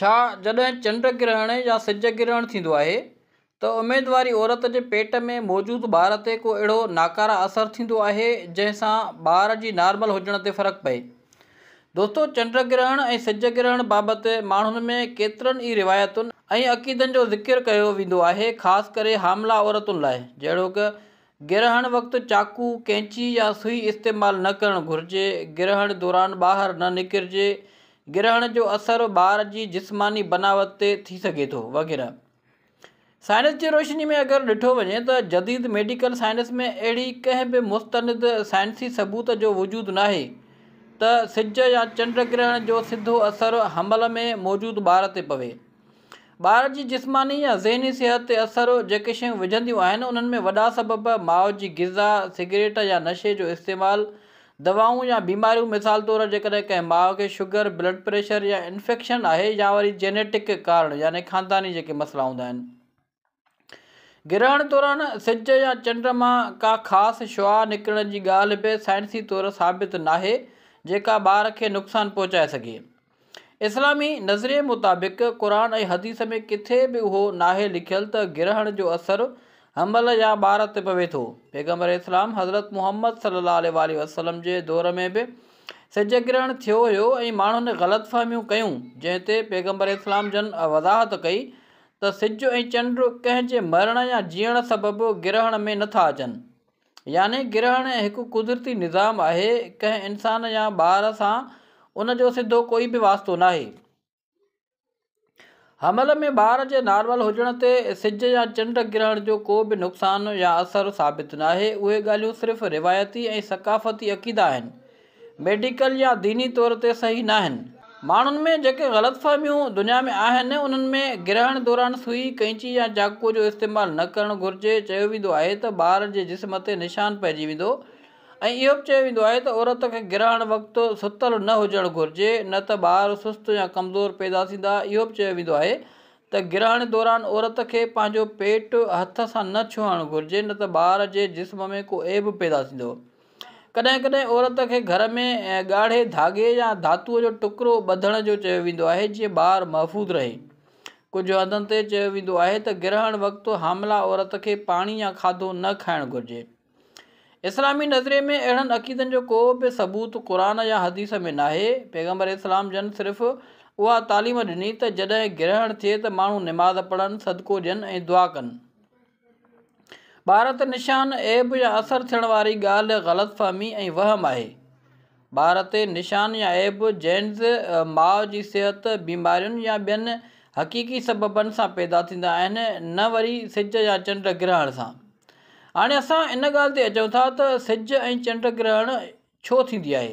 ڇا جڏهن چنڊ گرهڻ يا سج گرهڻ ٿيندو آهي ته اميدواري عورت جي پيٽ ۾ موجود ٻار تي ڪو اهڙو ناڪاره اثر ٿيندو آهي جنهن سان ٻار جي نارمل هجڻ تي فرق پئي؟ دوستو چنڊ گرهڻ ۽ سج گرهڻ بابت ماڻهن ۾ ڪيترن ئي روايتن ۽ عقيدن جو ذڪر ڪيو ويندو آهي خاص ڪري حاملا عورتن لاء جهڙوڪ گرهڻ وقت چاقو، ڪينچي يا سوئي استعمال نه ڪرڻ گهرجي. گرهڻ دوران ٻاهر نه نڪرجي. گرهڻ جو اثر ٻار جي جسماني بناوت تي ٿي سگهي ٿو، وغيره. سائنس جي روشني ۾ اگر ڏٺو وڃي ته جديد ميڊيڪل سائنس ۾ اهڙي ڪنهن به مستند سائنسي ثبوت جو وجود ناهي ته سج يا چنڊ گرهڻ جو سڌو اثر حمل ۾ موجود ٻار تي پوي. ٻار جي جسماني يا ذهني صحت تي اثر، جيڪي شيون وجهنديون آهن، انهن ۾ وڏا سبب ماء جي غذا، سگريٽ يا نشي جو استعمال، دوائون يا بيماريون مثال طور جيڪڏهن ڪنهن ماء کي شگر، بلڊ پريشر يا انفيڪشن آهي يا وري جينيٽڪ ڪارڻ يعني خانداني جيڪي مسئلا هوندا آهن. گرهڻ دوران سج يا چنڊ مان ڪا خاص شعاع نڪرڻ جي ڳالهه به سائنسي طور ثابت ناهي جيڪا ٻار کي نقصان پهچائي سگهي. اسلامي نظريي مطابق قرآن ۽ حديث ۾ ڪٿي به اهو ناهي لکيل ته گرهڻ جو اثر حمل يا ٻار تي پوي ٿو. پيغمبر اسلام حضرت محمد صلي الله عليه واٰله وسلم جي دور ۾ به سج گرهڻ ٿيو هيو ۽ ماڻهن غلط فهميون ڪيون جنهن تي پيغمبر اسلام جن وضاحت ڪئي ته سج ۽ چنڊ ڪنهن جي مرڻ يا جيئڻ سبب گرهڻ ۾ نٿا اچن. يعني گرهڻ هڪ قدرتي نظام آهي، ڪنهن انسان يا ٻار سان ان جو سڌو ڪوئي به واسطو ناهي. حمل ۾ ٻار جي نارمل هجڻ تي سج يا چنڊ گرهڻ جو ڪو به نقصان يا اثر ثابت ناهي، اهي ڳالهيون صرف روايتي ۽ ثقافتي عقيدا آهن، ميڊيڪل يا ديني طور تي صحيح ناهن. ماڻهن ۾ جيڪي غلط فهميون دنيا ۾ آهن انهن ۾ گرهڻ دوران سوئي، قئنچي يا چاقوء جو استعمال نه ڪرڻ گهرجي، چيو ويندو آهي ته ٻار جي جسم تي نشان پئجي ويندو ۽ اهو به چيو ويندو آهي ته عورت کي گرهڻ وقت ستل نه هجڻ گهرجي نه ته ٻار سست يا ڪمزور پيدا ٿيندا، اهو به چيو ويندو آهي ته گرهڻ دوران عورت کي پنهنجو پيٽ هٿ سان نه ڇهڻ گهرجي نه ته ٻار جي جسم ۾ ڪو عيب پيدا ٿيندو. ڪڏهن ڪڏهن عورت کي گهر ۾ ڳاڙهي ڌاڳي يا ڌاتوء جو ٽڪرو ٻڌڻ جو چيو ويندو آهي جيئن ٻار محفوظ رهي. ڪجهه هنڌن تي چيو ويندو آهي ته گرهڻ وقت حامله عورت کي پاڻي يا کاڌو نه کائڻ گهرجي. اسلامي نظرئي ۾ اهڙن عقيدن جو ڪو به ثبوت قرآن يا حديث ۾ ناهي. پيغمبر اسلام جن صرف اها تعليم ڏني ته جڏهن گرهڻ ٿئي ته ماڻهو نماز پڙهن، صدقو ڏين ۽ دعا ڪن. ٻار تي نشان، عيب يا اثر ٿيڻ واري ڳالهه غلط فهمي ۽ وهم آهي. ٻار تي نشان يا عيب جينز، ماء جي صحت، بيمارين يا ٻين حقيقي سببن سان پيدا ٿيندا آهن، نه وري سج يا چنڊ گرهڻ سان. هاڻي اسان ان ڳالهه تي اچون ٿا ته سج ۽ چنڊ گرهڻ ڇو ٿيندي آهي؟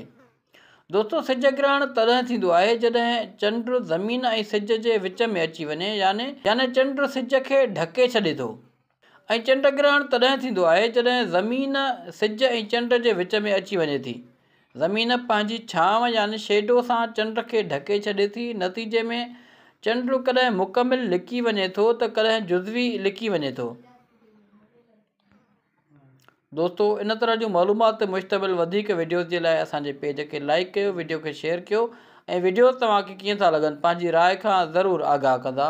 دوستو سج گرهڻ تڏهن ٿيندو آهي جڏهن چنڊ زمين ۽ سج جي وچ ۾ اچي وڃي يعني يعني چنڊ سج کي ڍڪي ڇڏي ٿو ۽ چنڊ گرهڻ تڏهن ٿيندو آهي جڏهن زمين سج ۽ چنڊ جي وچ ۾ اچي وڃي ٿي زمين پنهنجي ڇانو يعني شيڊو سان چنڊ کي ڍڪي ڇڏي ٿي نتيجي ۾ چنڊ ڪڏهن مڪمل لڪي وڃي ٿو ته ڪڏهن جزوي لڪي وڃي ٿو. دوستو ان طرح جون معلومات تي مشتمل وڌيڪ وڊيوز جي لاء اسانجي پيج کي لائڪ ڪيو وڊيو کي شيئر ڪيو ۽ وڊيوز توهان کي ڪيئن ٿا لڳن پنهنجي راء کان ضرور آگاهه ڪندا